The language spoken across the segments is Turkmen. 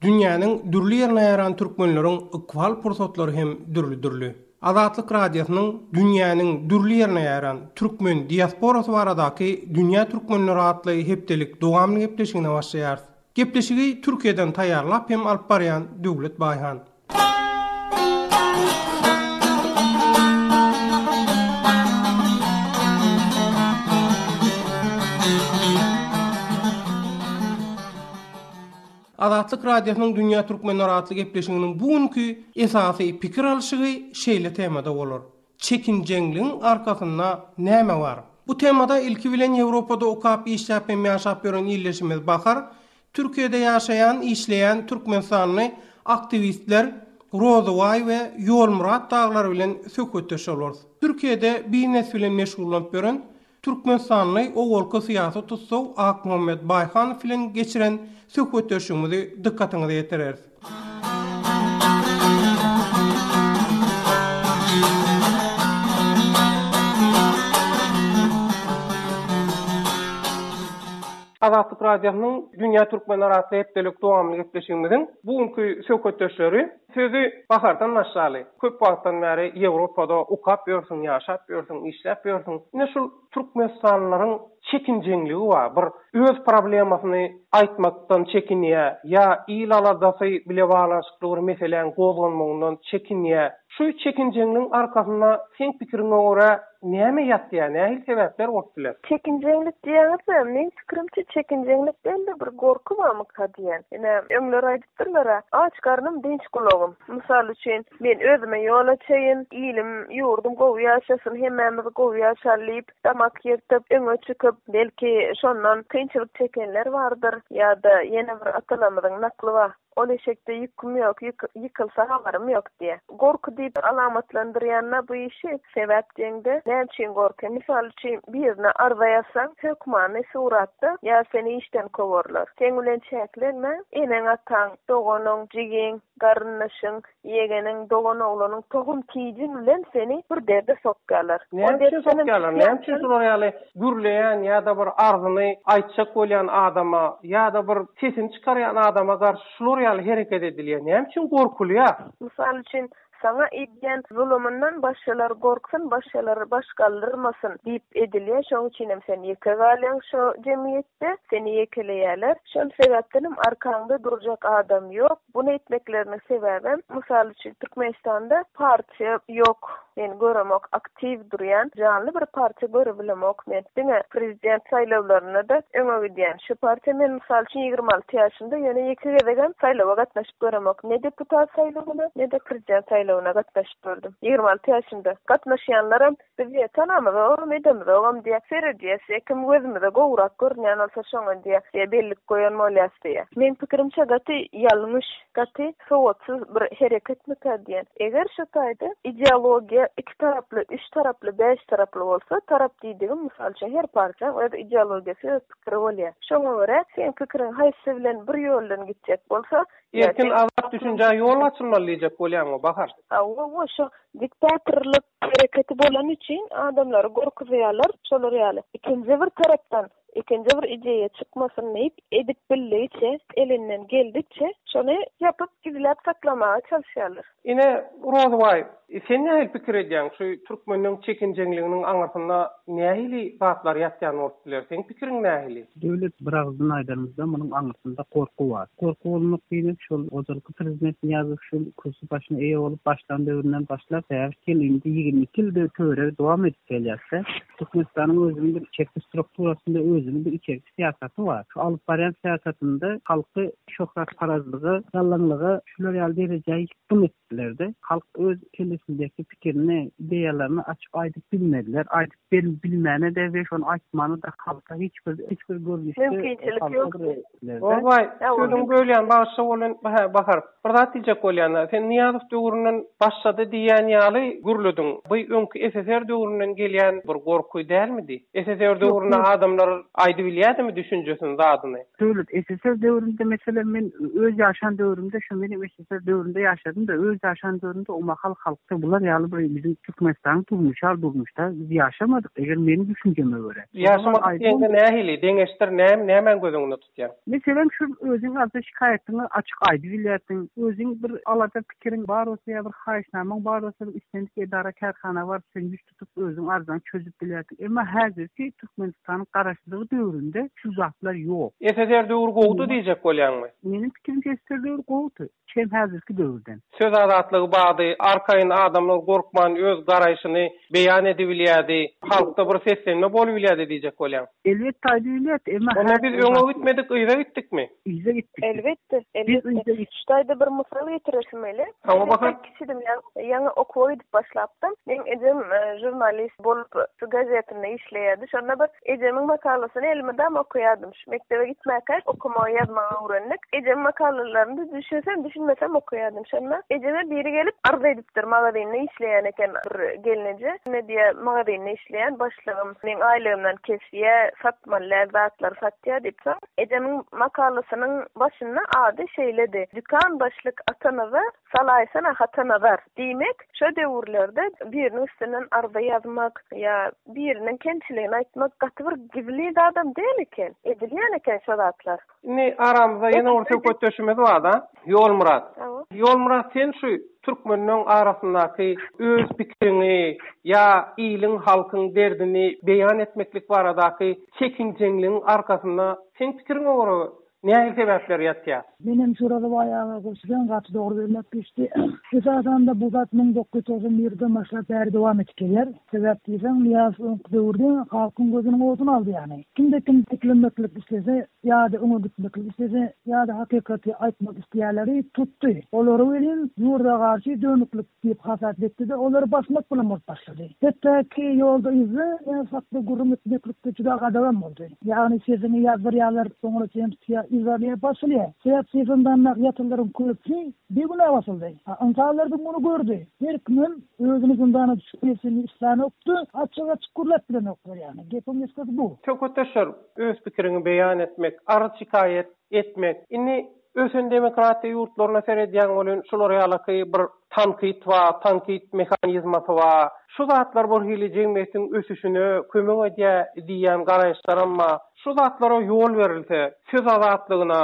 Dünýäniň dürli ýerine ýaran türkmenleriň ykbal pursatlary hem dürli-dürli. Azatlyk Radiosynyň Dünýäniň dürli ýerine ýaran türkmen diasporasy baradaky Dünýä türkmenleri atly hepdelik dowamly gepleşigine başlaýarys. Gepleşigi Türkiýeden taýýarlap hem alyp barýan Döwlet Baýhan. Azatlyk Radiosynyň Dünýä Türkmenler atly gepleşiginiň bu günki esasy pikir alşygy şeýle temada bolar, Çekinjeňligiň arkasynda näme bar? Bu temada ilki bilen Ýewropada okap, işläp hem ýaşap ýören ildeşimiz Bahar, Türkiýede ýaşaýan, işleýän türkmenistanly aktiwistler Rozybaý we Ýolmyrat daglar bilen söhbetdeş bolarys. Türkiýede biznes bilen meşgullanyp ýören Türkmenistanly owalky syýasy tussag Akmuhammet Baýhanow bilen geçiren söhbetdeşligimizi dykgatyňyza ýetireris. Azatlyk Radiosynyň Dünýä Türkmeni Arasy hepdelik dowamly gepleşigimiziň bu günki söhbetdeşleri Sözi Bahardan başlaly, köp wagtdan bäri Ýewropada okap ýörsüň, ýaşap ýörsüň, işläp ýörsüň. Ine şul türkmenistanlylaryň çekinjeňligi bar, bir öz problemasyny aýtmakdan çekinýä, ýa il aladasy bile baglanyşykly bir meseläň gozganmagyndan çekinýä. Şu çekinjeňligiň arkasynda seň pikiriňe görä näme ýatýa, nähili sebäpler bolup biler? Çekinjeňlik diýýäňizä, meň pikirimçe çekinjeňlik däl-de bir gorky barmyka diýýän. Ine öňler Syrlara, Aç garnym, dynç gulagym. Mysal üçin, Men özüme ýol açaýyn, ilim, ýurdum gowy ýaşasyn, hemmämiz gowy ýaşaly diýip, damak ýyrtyp, öňe çykyp, belki, şondan kynçylyk çekenler bardyr. Ýa-da ýene bir atalarymyzyň nakly bar, Ol eşekde ýüküm ýok, ýykylsa habarym ýok diýýär. Gorky diýip alamatlandyrýan-da bu işi, sebäp diýeňde, näme üçin gorky? Mysal üçin, birine arza ýazsaň, hökmany suratda, ýa seni işden kowarlar. Seň bilen çäklenme, eneň-ataň, doganyň, jigiň, garyndaşyň, ýegeniň, doganoglanyň, tohum-tijiň bilen seni bir derde sokýarlar. Näme üçin sokýarlar? Näme üçin şular ýaly gürleýän ýa-da bir arzyny aýtjak bolýan adama ýa-da bir sesini çykarýan adama garşy Şular ýaly hereket edilýär. Näme üçin gorkulýar? Mysal üçin, saňa edýän zulumyndan başgalar gorksun, başgalar baş galdyrmasyn diýip edilýär. Şoň üçinem sen ýeke galýaň şo jemgyýetde, seni ýekeleýärler. Şol sebäpdenem arkaňda durjak adam ýok. Bunu etmekleriniň sebäbem, mysal üçin, Türkmenistanda partiýa ýok. Men göremok aktiw durýan janly bir partiýa görebilemok men diňe prezident saýlawlarynada öňe gidýän şu partiýa men mysal üçin ýigrimi alty ýaşymda ýöne ýeke gezegem saýlawa gatnaşyp göremok ne deputat saýlawyna ne de prezident saýlawyna gatnaşyp gördüm ýigrimi alty ýaşymda gatnaşýanlaram biz ýe tanamyzogam edemizogam diýe seredýäs ýe kim gözümize gowrak görünýän bolsa şoňa diýe ýe bellik goýan bolýas diýe meň pikirimçe gaty ýalňyş Gaty sowatsyz bir hereketmikä diýen. Eger şu taýda ideologiýa iki taraply, üç taraply, bäş taraply bolsa, tarap diýdigim, mysal üçin, her partiýaň öz ideologiýasy, öz pikiri bolýar. Şoňa görä, seň pikiriň haýsy bilen bir ýoldan gitjek bolsa, Erkin, azat düşünjä ýol açylmaly diýjek bolýaňmy, Bahar? Hawa, hawa, şo diktatorlyk Hereketi bolany üçin adamlary gorkuzýarlar, şolar ýaly. Ikinji bir tarapdan, ikinji bir ideýa çykmasyn diýip, edip bildigiçe, elinden geldikçe şony ýapyp, gizläp saklamaga çalyşýarlar. Ine, Rozybaý, sen nähili pikir edýäň, şu türkmeniň çekinjeňliginiň aňyrsynda nähili zatlar ýatýan bolup biler, seň pikiriň nähili? Döwlet biragyzdan aýdanymyzda munuň aňyrsynda gorky bar. Gorky bolmak diýmek şol ojalyky prezident Nyýazow şu kürsi başyna eýe bolup başlan döwründen başlap bäş ýyl indi ýigrimi iki ýylda töweregi dowam edip gelýärse Türkmenistanyň özüniň bir içerki strukturasynda özüniň bir içerki syýasaty bar. Şu alyp barýan syýasatynda halky şöhratparazlyga, gallaňlyga şular ýaly derejä ýykgyn etdiler-de. Halk öz kellesindäki pikirini, ideýalaryny açyp aýdyp bilmediler. Aýdyp Sen bilmäne-de we şony aýtmana-da halka hiç bir, hiç bir görnüşde, Mümkinçilik halka ýok. bir ler-de. Obaý, Ýa, ol sözüňi bölýän, bagyşla welin, hä, Bahar, bir zat diýjek bolýan-a. Sen Nyýazow döwründen başlady diýýän ýaly gürlediň. Bu öňki SSR döwründen gelýän bir gorky dälmidi? SSR Ýok, döwründe döwür. adamlar aýdybilýädimi düşünjesini, zadyny? Döwlet, SSR döwründe, meselem, men öz ýaşan döwrümde şu meniň Sowetler döwründe ýaşadym-da, öz ýaşan döwrümde o mahal halkda bular ýaly bir biziň Türkmenistanyň durmuşal durmuşda biz ýaşamadyk, eger meniň düşünjeme görä. Ýaşamadyk diýende nähili, deňeşdir, näm, nämäni göz öňünde tutýaň? Meselem, şu özüň arza şikaýatyňy açyk aýdyp bilýärsiň, özüň bir alada pikiriň bar bolsa ýa bir haýyşnamaň bar bolsa, bir islendik edara-kärhana baryp sen ýüz tutup özüň arzany çözüp bilersiň. Emma häzirki Türkmenistanyň garaşsyzlygy döwründe şu zatlar ýok. SSR döwri gowudy diýjek bolýaňmy? Meniň pikirimçe SSR döwri gowudy. Çem häzirki döwürden. Söz azatlygy bardy, arkaýyn adamlar gorkman öz garaýşyny beýan edibilýärdi, halkda bir seslenme bolubilýärdi diýjek bolýaň. Elbetde aýdyberýät, emma Onda biz öňe gitmedik, yza gitdikmi? Yza gitdik. Elbetde, elbetde. Şu taýda bir mysal getiresim gelýär. Hawa, bahar. Kiçidim, ýaňy okuwa gidip başlapdym. Meň ejem žurnalist bolup, şu gazetinde işleýärdi. Şonda bir ejemiň makalasyny elime dam okaýardym. Şu mekdebe gitmäkä okamagy, ýazmagy öwrendik. Ejemiň makalalaryny düşünsem, düşünmesem okaýardym. Şonda ejeme biri gelip arz edipdi. Dr. Magazinde işleýän eken bir gelneje. Ine diýýä, magazinde işleýän başlygym. Meň aýlygymdan kesýä, satmaly däl zatlar satýa diýip. Soň ejemiň makalasynyň başynda ady şeýledi, Dükan başlyk Atanaza, salaýsana Hatanazar. Diýmek, şo döwürlerde biriniň üstünden arza ýazmak ýa biriniň kemçiligini aýtmak gaty bir gizlin zadam däl eken. Edilýän eken şo zatlar. Indi aramyzda ýene bir söhbetdeşimiz bar-da, Ýolmyrat. Ýolmyrat, sen şu türkmenleň arasyndaky öz pikiriňi ýa iliň, halkyň derdini beýan etmeklik baradaky çekinjeňligiň arkasynda seň pikiriňe görä nähili sebäpler ýatýar? Menem şu Rozowaý aga goşulan gaty dogry bölmek düşdi. Esasan-da bu zat müň dokuz ýüz togsan birden başlap bäri dowam edip gelýär. Sebäp diýseň, Nyýazow öňki döwürde halkyň gözüniň oduny aldy ýaly. Kimde kim dikilenmeklik islese ýa-da öňe gitmeklik islese ýa-da hakykaty aýtmak isleýänleri tutdy. Olary welin ýurda garşy dönüklik diýip hasap etdi-de, olary basmak bilen bolup başlady. Hetdäki ýolda yzda, ýa sakda gürrüň etmeklikde juda gadagam boldy. Ýagny sesiňi ýazdyrýarlar, soňra sen tutýa yzarlyja basylýar. Sebäp sesini dannap ýatanlaryň köpüsi bigünä basyldy. A ynsanlar bu güni gördi. Her kimem Özüni zyndana düşüp nebsini islanokdy. Açyk açyk gürläp bilenoklar ýagny. Gepiň gysgasy bu. Söhbetdeşler öz pikiriňi beýan etmek, arz şikaýat etmek. Indi ösen demokratiýa ýurtlaryna seredýäň welin şular ýalaky bir tankyt ba, tankyt mehanizmasy ba. Şu zatlar bir hili jemgyýetiň ösüşine kömek edýä diýýän garaýyşlaram ba. Şu zatlara ýol berilse, söz azatlygyna,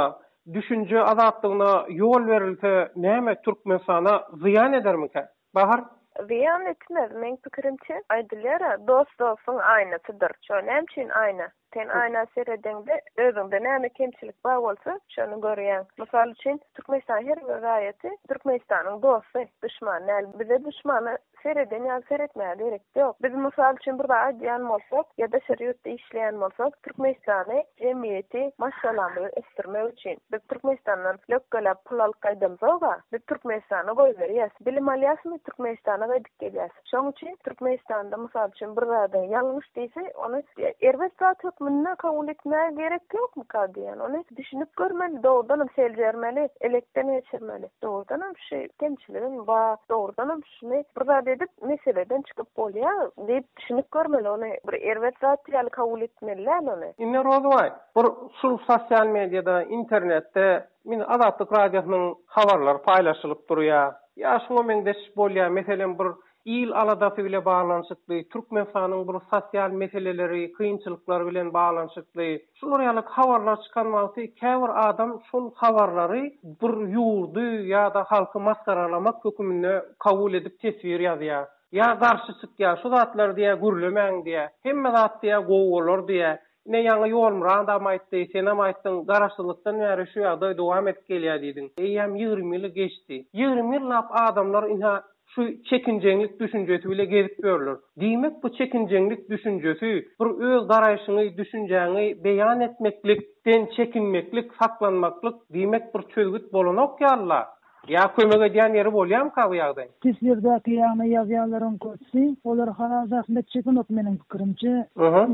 Düşünje azatlygyna ýol berilse näme Türkmenistana zyýan edermikä? Bahar. Zyýan etmez, meň pikirimçe, aýdylýara dost dostuň aýnasydyr. Şo näme üçin aýna? Sen aýna seredeňde özüňde näme kemçilik bar bolsa şony görýäň. Mysal üçin Türkmenistanyň her bir raýaty Türkmenistanyň dosty, duşman däl. Bize duşmana Sereden ýaly seretmäge gerek ýok. Biz mysal üçin bir zat aýdýan bolsak, ýa daşary ýurtda işleýän bolsak, Türkmenistany jemgyýeti maşgalamyzy ösdürmek üçin, biz Türkmenistandan lökgeläp pul alyp gaýdamzog-a, biz Türkmenistana goýberýäs. Bilim alýasmy, Türkmenistana gaýdyp gelýäs. Şoň üçin Türkmenistanda mysal üçin bir zady ýalňyş diýse, ony erbet zat hökmünde kabul etmäge gerek ýokmyka diýýän. Ony düşünip görmeli, dogrudanam seljermeli, elekden geçirmeli. Dogrudanam. Şeý kemçiligim bar. Dogrudanam şuny bir zat edip meseleden çykyp bolýa diýip düşünip görmeli ony bir erbet zat ýaly kabul etmeli däl ony. Indi Rozubaý bir şul sosial mediýada internetde indi Azatlyk radiosynyň habarlary paýlaşylyp durýa ýa şuňa meňzeş bolýa meselem bir Il aladasy bile baglanyşykly, Türkmenistanyň bir sosial meseleleri, kynçylyklary bilen baglanyşykly, şular ýaly habarlar çykan wagty käbir adam şol habarlary bir ýurdy ýa-da halky masgaralamak höküminde kabul edip teswir ýazýar. Ýa garşy çykýar, şu zatlary diýýär gürlemäň diýýär. Hemme zat diýýär gowy bolar diýýär. Ine ýaňy Ýolmyrat agam aýtdy, senem aýtdyň, garaşsyzlykdan bäri şu ýagdaý dowam edip gelýär diýdiň. Eýýäm ýigrimi ýyly geçdi. Ýigrimi ýyllap adamlar ynha Şu çekinjeňlik düşünjesi bile gezip ýörler. Diýmek bu çekinjeňlik düşünjesi, bir öz garaýşyňy, düşünjäňi beýan etmeklik, den çekinmeklik, saklanmaklyk, diýmek bir çözgüt bolanok ýaly-la. Ýa kömek edýän ýeri bolýamyka bu ýagdaý? Teswirdäki ýagny ýazýanlaryň köpüsi, olar Halal Zahmet çekenok meniň pikirimçe.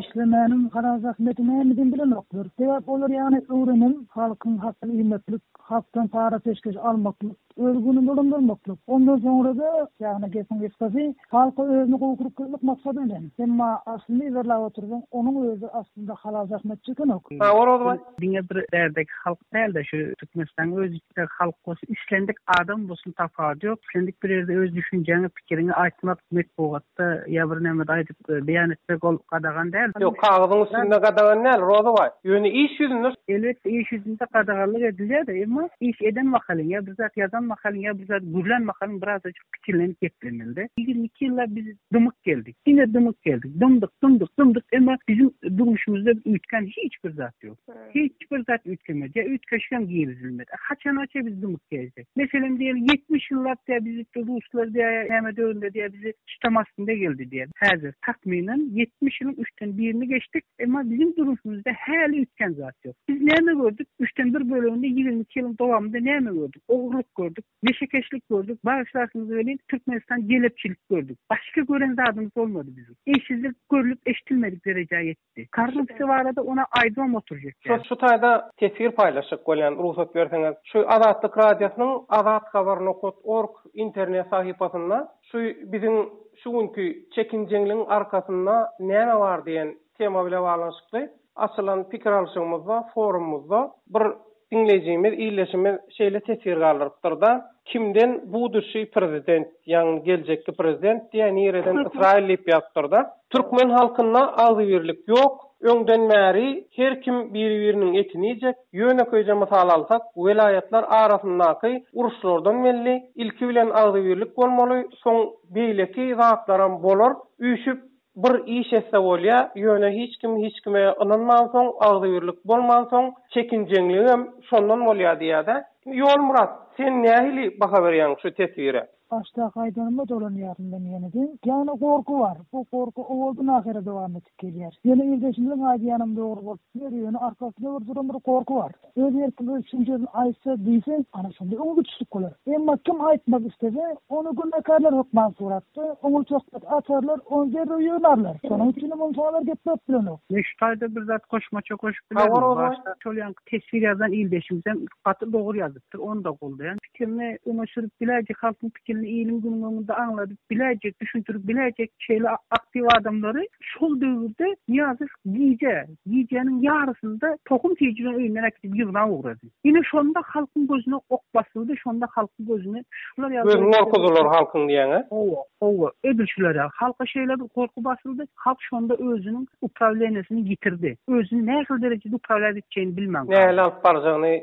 Işlemäniň Halal Zahmeti nämedini bilenoklar. Sebäp olar ýagny öwrenen, halkyň hakyny iýmeklik, halkdan para-peşgeş almaklyk, Öz gününi dolandyrmaklyk. Ondan soňra-da, ýagny gepiň gysgasy, halka özüni gowy kürkgezmek maksady bilen. Emma aslyny yzarlap otursaň, onuň özi aslynda halal zähmetçi ekenok. Sag bol Rozybaý. Diňe bir bärdeki halk däl-de, şu Türkmenistanyň öz içindäki halk bolsun, islendik adam bolsun tapawudy ýok. Islendik bir ýerde öz düşünjäňi, pikiriňi aýtmak metbugat. Wagtda ýa bir näme aýdyp beýan etmek ol gadagan däl. Ýok, kagyzyň üstünde gadagan däl, Roza baý. Ýöne iş ýüzünde. Elbetde iş ýüzünde gadaganlyk edilýär-de, emma iş eden mahalyň, ýa bir zat ýazan mahalyň, ýa bir zat gürlän mahalyň birazajyk kiçelenip geplemeli-de. Ýigrimi iki ýyllap biz dymyk geldik. Diňe dymyk geldik. Dymdyk, dymdyk, dymdyk, emma biziň durmuşymyzda üýtgän hiç bir zat ýok. Hiç bir zat üýtgemez. Ýa üýtgeşik hem girizilmez. A haçangaça biz dymyp gezjek? Meselem diýeli, ýetmiş ýyllap diýä bizi şu ruslar diýä ýa näme döwründe diýä bizi tutam astynda geldi diýä. Häzir, takmynan, ýetmiş ýylyň üçden birini geçdik, emma biziň durmuşymyzda häli üýtgän zat ýok. Biz näme gördük? Üçden bir böleginde ýigrimi iki ýylyň dowamynda näme gördük? Ogurlyk gördük, neşekeşlik gördük, bagyşlarsyňyz welin, Türkmenistan jelepçilik gördük. Başga gören zadymyz bolmady biziň. Eýsizlik görlüp-eşidilmedik derejä ýetdi. Korrupsiýa barada ony aýdybam oturjak däl. Şu taýda teswir paýlaşjak bolýan rugsat berseňiz. Şu Azatlyk Radiosynyň Azat Haber nokat org internet sahypasynda şu biziň şu günki çekinjeňligiň arkasynda näme bar diýen tema bile baglanyşykly açylan pikir alşygymyzda forumymyzda bir Diňleýjimiz, ildeşimiz şeýle teswir galdyrypdyr-da, Kimden buduşiý prezident, ýagny geljekki prezident diýýä, nireden Ysraýyl diýip ýazypdyr-da. Türkmen halkynda agzybirlik ýok, öňden bäri her kim biri-biriniň etini iýjek. Ýönekeýje mysal alsak, welaýatlar arasyndaky uruşlardan belli, ilki bilen agzybirlik bolmaly, soň beýleki zatlaram bolar, üýşüp, Bir iş etse bolýa, ýöne hiç kim hiç kime ynanmansoň, agzybirlik bolmansoň, çekinjeňligem şondan bolýa diýýädä. Ýolmyrat, sen nähili baha berýäň şu teswire? Başdaky aýdanyma dolanýaryn men ýeneden. Ýagny gorky bar. Bu gorky owaldan-ahyra dowam edip gelýär. Ýöne ildeşimiziň aýdýanam dogry bolup biler, ýöne arkasyna bir duran bir gorky bar. Öz erkiň öz çenjerini aýtsa diýseň, ana şonda öňe gitişlik bolar. Emma kim aýtmak istese, ony günäkärler hökman sorapdy, oňa söhbet açarlar, ony derrew ýygnarlar. Şonuň üçinem ony şalar gepläp bilenok. Men şu taýda bir zat goşmaça goşup bilerin. Başda şol ýanky teswir ýazan ildeşimizem gaty dogry ýazypdyr, ony-da goldaýan. Pikirini öňe sürüp biläýjek, halkyň pikirini iliň günüň öňünde aňladyp biläýjek, düşündirip biläýjek şeýle aktiw adamlary şol döwürde Nyýazow gije, Gijäniň ýarysynda tohum süýjüni öýünden äkidip ýygnap ugrady. Ine şonda halkyň gözüne ok basyldy, şonda halkyň gözüne pişikler ýaly Gözüni gorkuzdylar halkyň diýäň-ä? Hawa, hawa, edil şular ýaly. Halka şeýle bir gorky basyldy, halk şonda özüniň uprawleniýesini ýitirdi. Özüni nähili derejede uprawlýat etjegini bilmän galdy. Nähili alyp barjagyny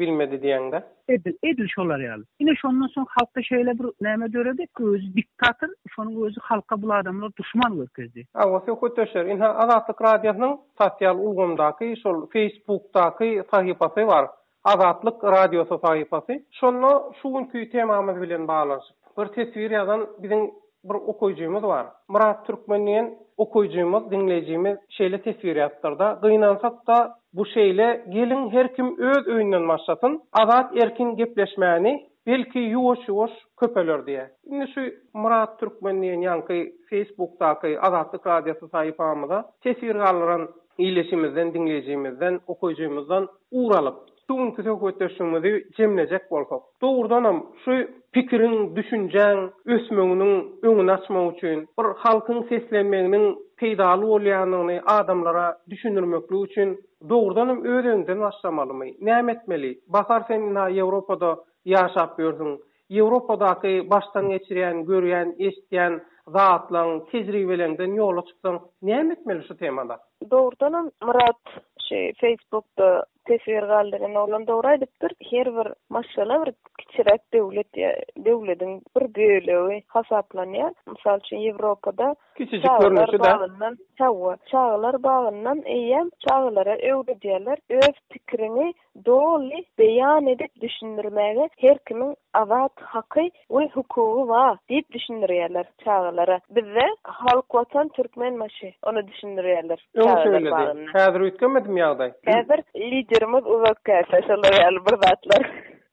bilmedi diýäň-dä? Edil, edil şolar ýaly. Ine şondan soň halkda şeýle bir näme döredi, özi diktator, şonuň özi halka bul adamlar duşman görkezdi. Hawa, söhbetdeşler, ynha Azatlyk Radiosynyň sosial ulgamdaky, şol Facebookdaky sahypasy bar. Azatlyk Radiosy sahypasy. Şonda şu günki temamyz bilen baglanyşyp bir teswir ýazan biziň Bir okyjymyz bar. Myrat Türkmen diýen okyjymyz, diňleýjimiz şeýle teswir ýazpdyrda, Gynansak-da, bu şeýle, geliň her kim öz öýünden başlasyn, azat erkin gepleşmäni, belki ýuwaş-ýuwaş köpeler diýýä. Indi şu Myrat Türkmen diýen ýaňky Feýsbukdaky Azatlyk Radiosy sahypamyza teswir galdyran ildeşimizden, diňleýjimizden, okyjymyzdan ugur alyp, Şu günki söhbetdeşligimizi jemlejek bolsak, dogrudanam, şu pikiriň, düşünjäň ösmeginiň öňüni açmak üçin, bir halkyň seslenmeginiň peýdaly bolýandygyny adamlara düşündirmeklik üçin dogrudanam öz öňden başlamalymy? Näme etmeli? Bahar sen ynha Ýewropada ýaşap ýörsüň. Ýewropadaky başdan geçirýän, görýän, eşitýän zatlaň, tejribeleňden ýola çyksaň, näme etmeli şu temada? Dogrudanam Myrat şu Facebookda Teswir galdyran oglan dogry aýdypdyr. Her bir maşgala bir kiçiräk döwlet ýa döwlediň bir bölegi hasaplanýar. Mysal üçin Ýewropada Kiçijik görnüşi-dä. Hawa, çagalar bagyndan eýýäm çagalara öwredýärler. Öz pikiriňi doly beýan edip düşündirmäge her kimiň azat haky we hukugy bar diýip düşündirýärler. Çagalara bizde Halk Watan Türkmen maşy ony düşündirýärler çagalar bagynda. Häzir üýtgemedim ýagdaý. Häzir liderimiz uzak käte şolar ýaly bir zatlar.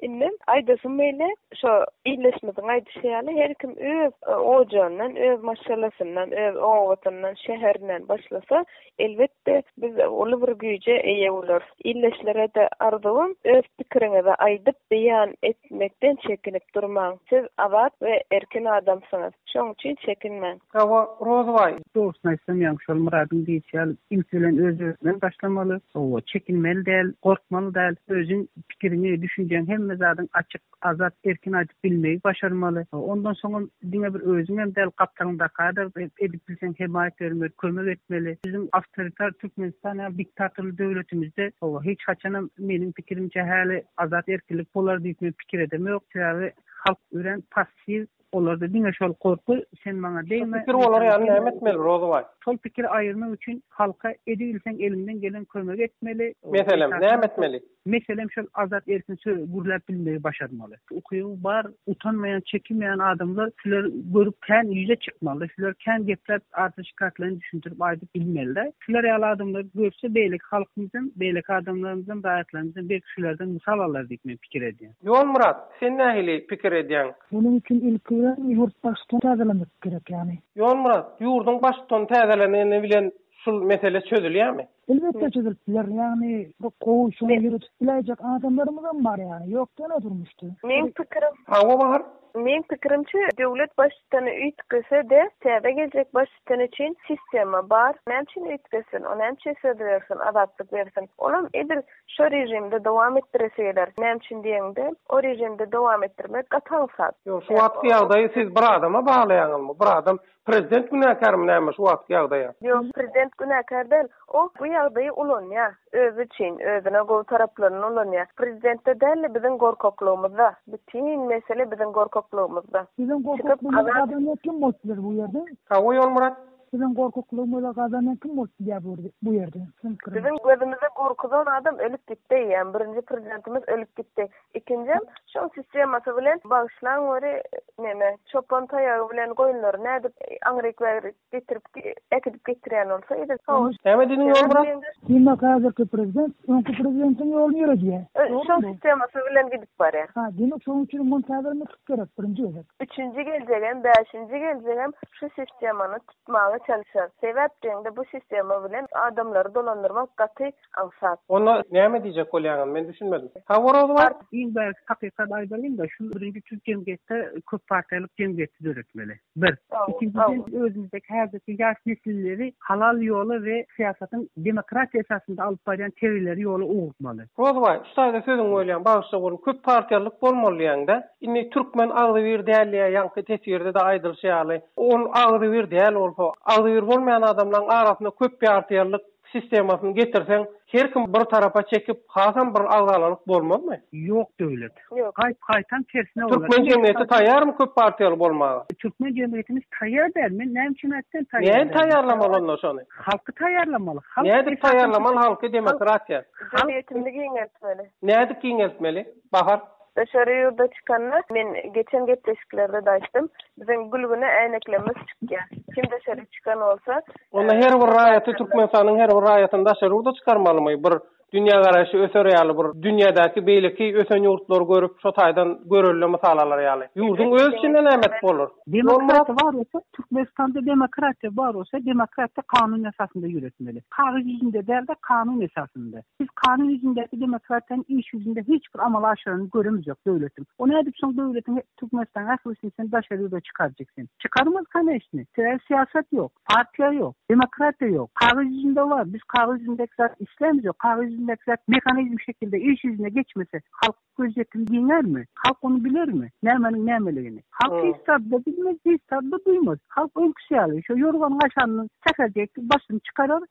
Indem aýdasym beýle şo ildeşimiziň aýdyşy ýaly her kim öz ojandan öz maşgalasyndan öz obasynyň şäherinden başlasa Elbetde, biz uly bir güýje eýe bolarys. Ildeşlere-de arzuwym, öz pikiriňizi aýdyp, beýan etmekden çekinip durmaň. Siz azat we erkin adamsyňyz. Şoň üçin çekinmäň. Hawa, Rozybaý. Dogrusyny aýtsam, ýaňy şol Myradyň diýşi ýaly, ilki bilen özüňden başlamaly. Hawa, çekinmeli däl, gorkmaly däl. Özüň pikiriňi, düşünjäňi hemme zadyň açyk. Azat erkin aýdyp bilmegi başarmaly. Ondan soňam diňe bir özüňem däl, gapdalyňdaka-da edip bilseň hemaýat bermeli, kömek etmeli. Biziň awtoritar Türkmenistan ýaly diktatorly döwletimizde hawa, hiç haçanam meniň pikirimçe häli azat erkinlik bolar diýip men pikir edemok. Sebäbi halk örän passiw. Olarda diňe şol gorky, sen maňa degme. Şu pikir bolar ýaly näme etmeli, Rozybaý? Şol pikiri aýyrmak üçin halka edibilseň eliňden gelen kömegi etmeli. Meselem, näme etmeli? Meselem şol azat erkin söz gürläp bilmegi başarmaly. Ukyby bar, utanmaýan, çekinmeýän adamlar şular görüp kän ýüze çykmaly. Şular kän gepläp arza şikaýatlaryny düşündirip aýdyp bilmelida. Şular ýaly adamlary görse beýleki halkymyzam, beýleki adamlarymyzam, raýatlarymyzam belki şulardan mysal alar diýip men pikir edýän. Ýolmyrat, sen nähili pikir edýäň? Munuň üçin ilki bilen ýurt baştutany täzelemek gerek ýaly. Ýolmyrat, ýurduň baştutany täzeleneni bilen şul mesele çözülýärmi? Elbetde çözülip biler. Ýagny bu gowy şuny ýöredip biläýjek adamlarymyzam bar ýaly. Ýok diýen-ä durmuşda. Meň pikirim. Hawa Bahar. Meň pikirimçe döwlet baştutany üýtgese-de täze geljek baştutan üçin sistema bar. Näme üçin üýtgesin? O näme üçin söz bersin, azatlyk bersin? Olam edil Şo režimde dowam etdireseler, näme üçin diýeňde, o režimde dowam etdirmek gaty aňsat. Ýok, şu wagtky ýagdaýy siz bir adama baglaýaňyzmy? Bir adam, prezident günäkärmi näme şu wagtky ýagdaýa? Ýok, prezident günäkär däl. Ol bu ýagdaýy ulanýar. Özi üçin, özüne gowy taraplaryny ulanýar. Prezidentde däl-de biziň gorkaklygymyzda. Bütin mesele biziň gorkaklygymyzda. Biziň gorkaklygymyz gazanýar kim bolupdyr bu ýerde? Sag bol Ýolmyrat. Siziň gorkaklygymyza gazanan kim bolup bilýär bu ýerde? Siziň gözüňize gorkuzan adam ölüp gitdi eýýäm. Birinji prezidentimiz ölüp gitdi. Ikinjem şol sistemasy bilen bagyşlaň göri neme çopan taýagy bilen goýunlary nädip aňryk-beýrik getirip äkidip getirýän bolsa edil şo. Näme diýdiň Ýolmyrat? Diýmek häzirki prezident öňki prezidentiň ýoluny ýöredýär. Şol sistemasy bilen gidip barýar. Hä diýmek şoň üçin muntadirmik? Gerek birinji gezek. Üçünji geljegem, bäşinji geljegem şu sistemany tutmaga çalyşar. Sebäp deňde bu sistema bilen adamlary dolandyrmak gaty aňsat. Onda näme diýjek bolýaňam men düşünmedim. Sag bol Rozyban. Iň bärki hakykat aýdalyň-da, şu birinji tüýs jemgyýetde köp partiýalyk jemgyýeti döretmeli. Bir. Ikinjiden, özümizdäki häzirki ýaş nesilleri halal ýola we syýasatyň demokratiýa esasynda alyp barýan tegelleri ýola ugrutmaly. Rozybaý, şu taýda sözüňi bölýän, bagyşla oglum, köp partiýalylyk bolmaly diýýäň-dä. Indi türkmen agzybir däl diýýär, ýaňky teswirde-de aýdylyşy ýaly. Ol agzybir däl bolsa, agzybir bolmaýan adamlaryň arasynda köppartiýalylyk sistemasyny getirseň her kim bir tarapa çekip hasam bir agzalalyk bolmazmy. Ýok döwlet. Gaýt gaýtam tersine bolar. Türkmen jemgyýeti taýýarmy köp partiýaly bolmaga? Türkmen jemgyýetimiz taýýar däl. Men näme üçin aýtdym taýýar däl. Nädip taýýarlamaly onda şony? Halky taýýarlamaly. Halk Nädip taýýarlamaly halky demokratiýa? Jemgyýetimizi giňeltmeli. Nädip giňeltmeli? Bahar. Daşary ýurda çykanda, men geçen gepleşiklerde-de aýtdym, biziň gülgüne äýneklerimiz çykýar. Kim daşary çykan bolsa, Onda her bir raýaty, Türkmenistanyň her bir raýatyny daşary ýurda çykarmalymy? Bir dünýägaraýşy öser ýaly, bir dünýädäki beýleki ösen ýurtlary görüp, şo taýdan görelde mysal alar ýaly. Ýurduň öz içinde näme etip bolar? Demokratiýa bar bolsa, Türkmenistanda demokratiýa bar bolsa, demokratiýa kanun esasynda ýöretmeli. Kagyz ýüzünde däl-de, kanun esasynda. Biz kanun ýüzündäki demokratiýany iş ýüzünde hiç bir amala aşyranyny göremzok döwletiň. O nädip şoň döwletiň Türkmenistanyň ählisini sen daşary ýurda çykarjak sen? Çykarmaz kaneşni. Sebäbi syýasat ýok. Partiýa ýok. Demokratiýa ýok. Kagyz ýüzünde bar. Biz kagyz ýüzündäki zady islämizok. Kagyz ýüzündäki zat mehanizm şekilde iş ýüzüne geçmese halk. Gözýetim giňärmi? Halk ony bilermi? Nämäniň nämeligini? Halk hiç zady-da bilmez, hiç zady-da duýmaz. Halk öňküsi ýaly, şo ýorgan-gaşanyny säherdek başyny çykarar,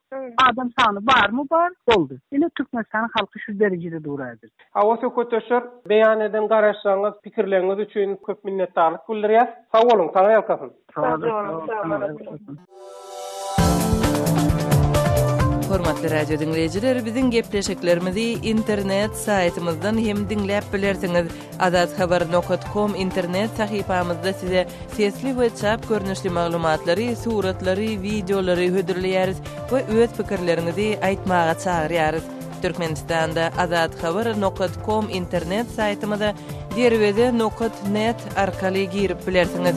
adam sany barmy bar, boldy. Ine, Türkmenistanyň halky şu derejede dur häzir. Hawa, söhbetdeşler, beýan eden garaýyşlaryňyz, pikirleriňiz üçin köp minnetdarlyk bildirýäs. Sag boluň, Taňry ýalkasyn! Hormatly radio diňleýjiler, biziň gepleşiklerimizi internet saýtymyzdan hem diňläp bilersiňiz. Azat habar nokat kom internet sahypamyzda size sesli we çap görnüşli maglumatlary, suratlary, wideolary hödürleýäris we öz pikirleriňizi aýtmaga çagyrýarys. Türkmenistanda Azat Haber nokat kom internet saýtymyza derweze nokat net arkaly girip bilersiňiz.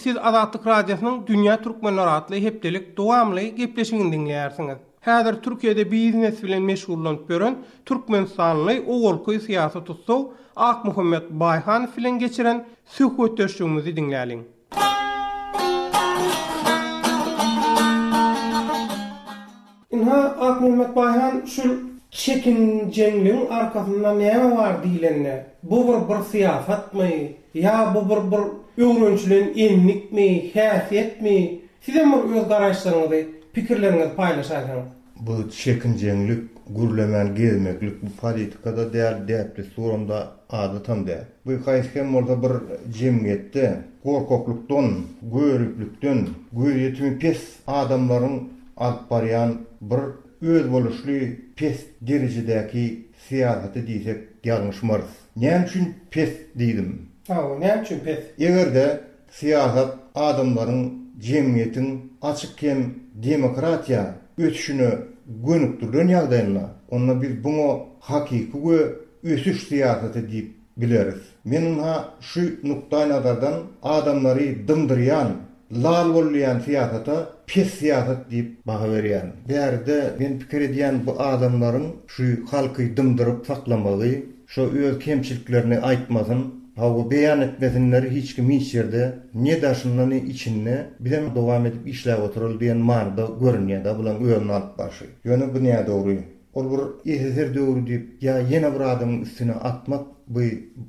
Siz Azatlyk Radiosynyň Dünýä Türkmenler atly hepdelik dowamly gepleşigini diňleýärsiňiz. Häzir Türkiýede biznes bilen meşgullanyp ýören türkmenistanly owalky syýasy tussag Akmuhammet Baýhanow bilen geçiren söhbetdeşligimizi diňläliň. Ynha, Akmulmyrat baý han, şul çekinjeňligiň arkasynda näme bar diýlende, bu bir bir syýasatmy, ýa bu bir bir öwrenişilen endikmi, häsiýetmi, sizem bir öz garaýyşlaryňyzy, pikirleriňizi paýlaşaýsaňyz? Bu çekinjeňlik, gürlemän gezmeklik bu politika-da däl, däp-dessuram-da, adatam däl. Bu haýsy hem bolsa bir jemgyýetde gorkaklykdan, göriplikden göz ýetimi pes adamlaryň alyp barýan bir özboluşly pes derejedäki syýasaty diýsek ýalňyşmarys. Näme üçin pes diýdim? Hawa, näme üçin pes? Eger-de Syýasat adamlaryň jemgyýetiň açyk hem demokratiýa ösüşine gönükdirilen ýagdaýynda, onda biz buňa hakyky we ösüş syýasaty diýip bileris. Men ynha şu nukdaýnazardan adamlary dymdyrýan, lal bollaýan syýasata pes syýasat diýip baha berýärin. Bärde men pikir edýän bu adamlaryň şu halky dymdyryp saklamagy, Şo öz kemçiliklerini aýtmasyn, hawa beýan etmesinler hiç kim hiç ýerde, ne daşynda ne içinde, bizem dowam edip işläp otyraly diýen manyda görünýärda bulaň özüni alyp barşy. Ýöne bu nädogry. Ol bir SSR döwri diýip ýa ýene bir adamyň üstüne atmak bu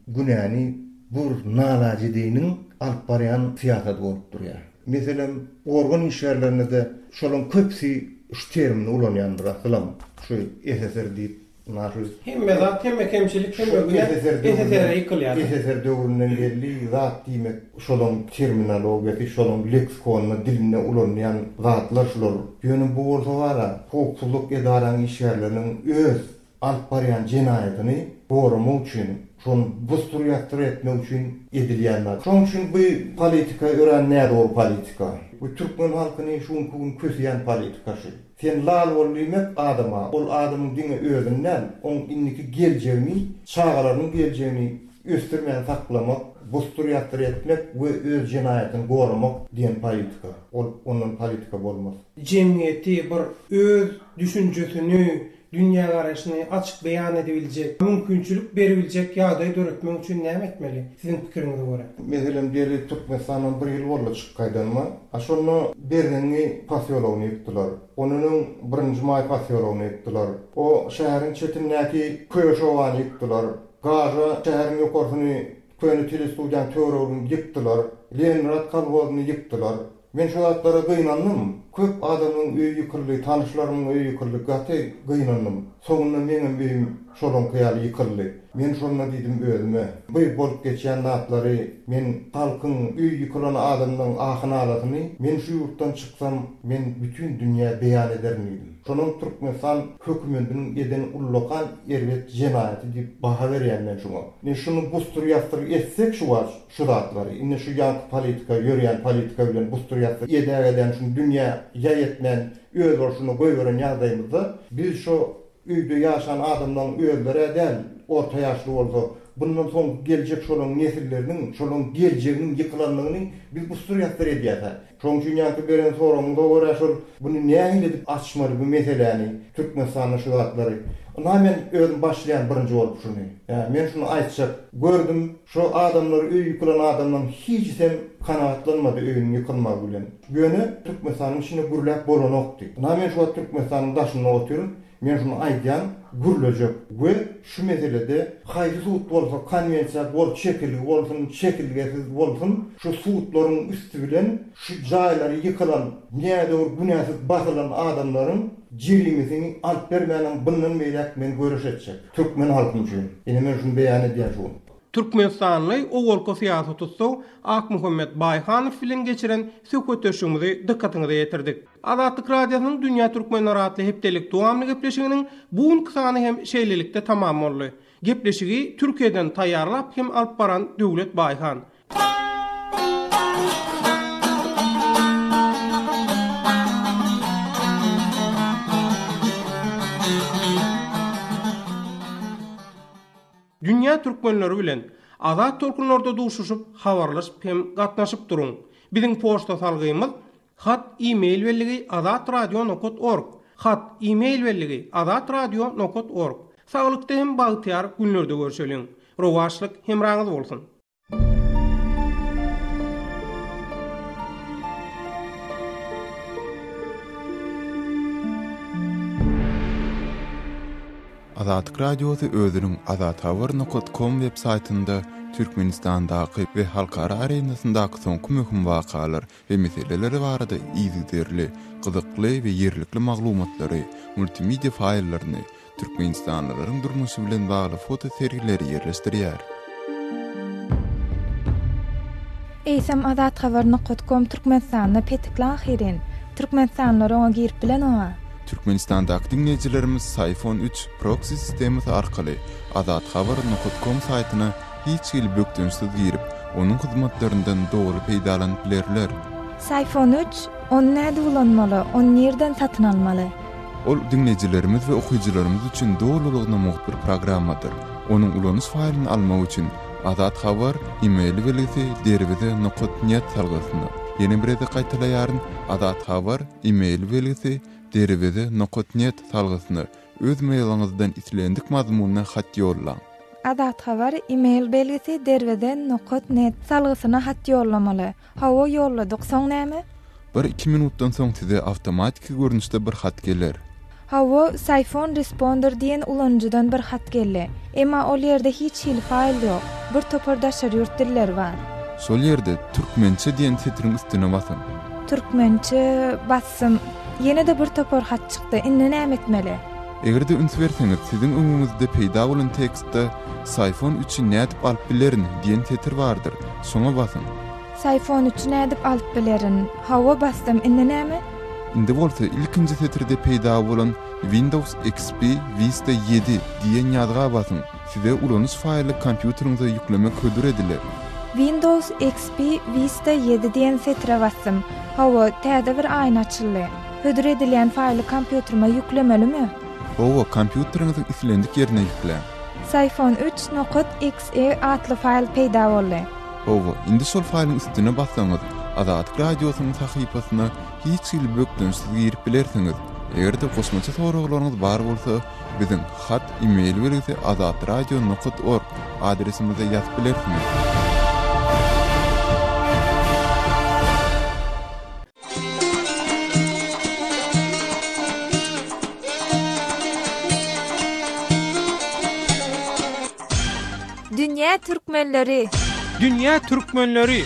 günäni bu bir nalajediniň alyp barýan syýasaty bolup durýar. Meselem organ işgärlerinde şolaň köpüsi şu termini ulanýandyr asylam şu SSR diýip. Marhus. Hemme zat, hemme kemçilik, hemme günä SSR-e ýykylýar. SSR döwründen belli zat diýmek, şolaň terminologiýasy, şolaň leksikonyna, dilinde ulanylýan zatlar şular. Ýöne bu bolsa bar-a, howpsuzlyk edaraň işgärleriniň öz alyp barýan jenaýatyny goramak üçin, şony bus-tur-ýatdyr etmek üçin edilýän zat. Şonuň üçin bu politika örän nädogry politika. Bu türkmen halkyny şu günki gün köseýän politika şu. Sen lal bol diýmek adama, ol adamyň diňe özüni däl, oň indiki geljegini, çagalarynyň geljegini ösdürmän saklamak, busdur-ýasdyr etmek we öz jenaýatyny goramak diýen politika. Ol ondan politika bolmaz. Jemgyýeti bir öz düşünjesini, dünýägaraýşyny açyk beýan edibiljek, mümkinçilik beribiljek ýagdaý döretmek üçin näme etmeli, siziň pikiriňize görä? Meselem, gelip Türkmenistandan bir ýyl boldy çykyp gaýdanyma. A şonda Berzeňňi posýologyny ýykdylar. Ondan öň Birinji maý posýologyny ýykdylar. O şäheriň çetindäki Köýeş obany ýykdylar. Gaža şäheriň ýokarsyny, köne telestudiýanyň töweregini ýykdylar. Leningrad kolhozyny ýykdylar. Men şu zatlara gynandym. Köp adamyň öýi ýykyldy, tanyşlarymyň öýi ýykyldy, gaty gynandym. Soňunda meňem öýüm şolaňky ýaly ýykyldy. Men şonda diýdim özüme, bu bolup geçýän zatlary, men halkyň, öýi ýykylan adamlaryň ahy-nalasyny men şu ýurtdan çyksam, men bütin dünýä beýan ederin diýdim. Şonam Türkmenistan hökümetiniň eden ullakan erbet jenaýaty diýip baha berýän men şuňa. Ne şuny busdur-ýasdyr etsek şu wagt, Şu zatlary, indi şu ýaňky politika, ýörýän politika bilen gusdurýasy, edä gelýän şuny dünýä ýaý etmän, özbolşuny goýberen ýagdaýymyzda, biz şu öýde ýaşan adamlaň özleri-ä däl, orta ýaşly bolsa, bundan soňky geljek şolaň nesilleriniň, şolaň geljeginiň ýykylandygyny biz gusdurýasdyr edýäs-ä. Şoň üçin ýaňky beren soragyňyza görä şol buny nähili edip açmaly bu meseläni Türkmenistanda şu zatlary. Ynha men özüm başlaýan birinji bolup şuny. Ýa men şuny aýtjak gördüm şo adamlar öýi ýykylan adamlaň hijisem kanagatlanmady öýüniň ýykylmagy bilen. Ýöne Türkmenistanyň içinde gürläp bolanokdy. Ynha men şu wagt Türkmenistanyň daşynda otyryn. Men şuny aýdýan, gürlejek we şu meselede haýsy sud bolsa konwensiýa gol çekilgi bolsun, çekilgesiz bolsun, şu sudlaryň üsti bilen şu jaýlary ýykylan, nädogry günäsiz basylan adamlaryň jerimesini alyp bermänem bundan beýläk men göreş etjek. Türkmen halkym üçin. Ine men şuny beýan edýän şu gün. Türkmenistanly owalky syýasy tussag Akmuhammet Baýhanow bilen geçiren söhbetdeşligimizi dykgatyňyza ýetirdik. Azatlyk Radiosynyň Dünýä Türkmenler atly hepdelik dowamly gepleşiginiň bu günki sany hem şeýlelikde tamam boldy. Gepleşigi Türkiýeden taýýarlap hem alyp baran Döwlet Baýhan. Dünýä türkmenleri bilen Azat tolkunlarda duşuşyp, habarlaşyp hem gatnaşyp duruň. Biziň poçta salgymyz. Hat, e-mail belligi, Azat Radio nokat org. Hat, e-mail belligi, Azat Radio nokat org. Saglykda hem bagtyýar günlerde görşeliň. Rowaçlyk hemraňyz bolsun! Azatlyk Radiosy özüniň azathabar nokat kom web saýtynda Türkmenistandaky we halkara arenasyndaky soňky möhüm wakalar, we meseleleri barada yzygiderli, gyzykly we ýerlikli maglumatlary, multimedia faýllaryny, türkmenistanlylaryň durmuşy bilen bagly foto sergileri ýerleşdirýär. Eýsem Azat Haber Nokat Kom Türkmenistanda petikli ahyryn. Türkmenistanlylar oňa girip bilenok-a. Türkmenistandaky diňleýjilerimiz Syphon üç proksi sistemasy arkaly Azat Haber Nokat Kom saýtyna hiç hili bökdençsiz girip, onuň hyzmatlaryndan doly peýdalanyp bilerler. Sayfon üç, Ony näde ulanmaly, ony nirden satyn almaly? Ol diňleýjilerimiz we okyjylarymyz üçin dolulygyna mugt bir programmadyr. Onuň ulanyş faýlyny almak üçin, Azat Habar, e-mail belgisi, derwize, nokat, net salgysyna. Ýene bir gezek gaýtalaýaryn, Azat Habar, e-mail belgisi, derwize, nokat, net salgysyna. Öz mailiňizden islendik mazmunda hat ýollaň. Azat Habar email belgisi derweze nokat net salgysyna hat ýollamaly. Hawa ýolladyk, soň näme? Bir iki minutdan soň size awtomatiki görnüşde bir hat geler. Hawa Syphon Responder diýen ulanyjydan bir hat geldi. Emma ol ýerde hiç hili faýl ýok. Bir topar daşary ýurt dilleri bar. Şol ýerde Türkmençe diýen setiriň üstüne basyň. Türkmençe basyň. Ýazdym. Ýene-de bir topar hat çykdy. Indi näme etmeli? Eger-de üns berseňiz, siziň öňüňizde peýda bolan tekstde Saýfon üçin nädip alyp bilerin? diýen setir bardyr. Şoňa basyň. Saýfon üçin nädip alyp bilerin? Hawa, basdym. Indi näme? Indi bolsa ilkinji setirde peýda bolan Windows XP Vista ýedi diýen ýazga basyň. Size ulanyş faýly kompýuteriňize ýüklemek hödür ediler. Windows XP Vista ýedi diýen setre basdym. Hawa, täze bir aýna açyldy. Hödür edilýän faýly kompýuterime ýüklemelimi? Hawa, kompýuteriňiziň islendik ýerine ýükläň. Syphon üç nokat XE atly faýl peýda boldy. Hawa, indi şol faýlyň üstüne bassaňyz, Azatlyk Radiosynyň sahypasyna hiç hili bökdençsiz girip bilersiňiz. Eger-de goşmaça soraglaryňyz bar bolsa, Biziň hat, e-mail belgisi azat radio nokat org adresimize ýazyp bilersiňiz. Dünýä türkmenleri. Dünýä türkmenleri.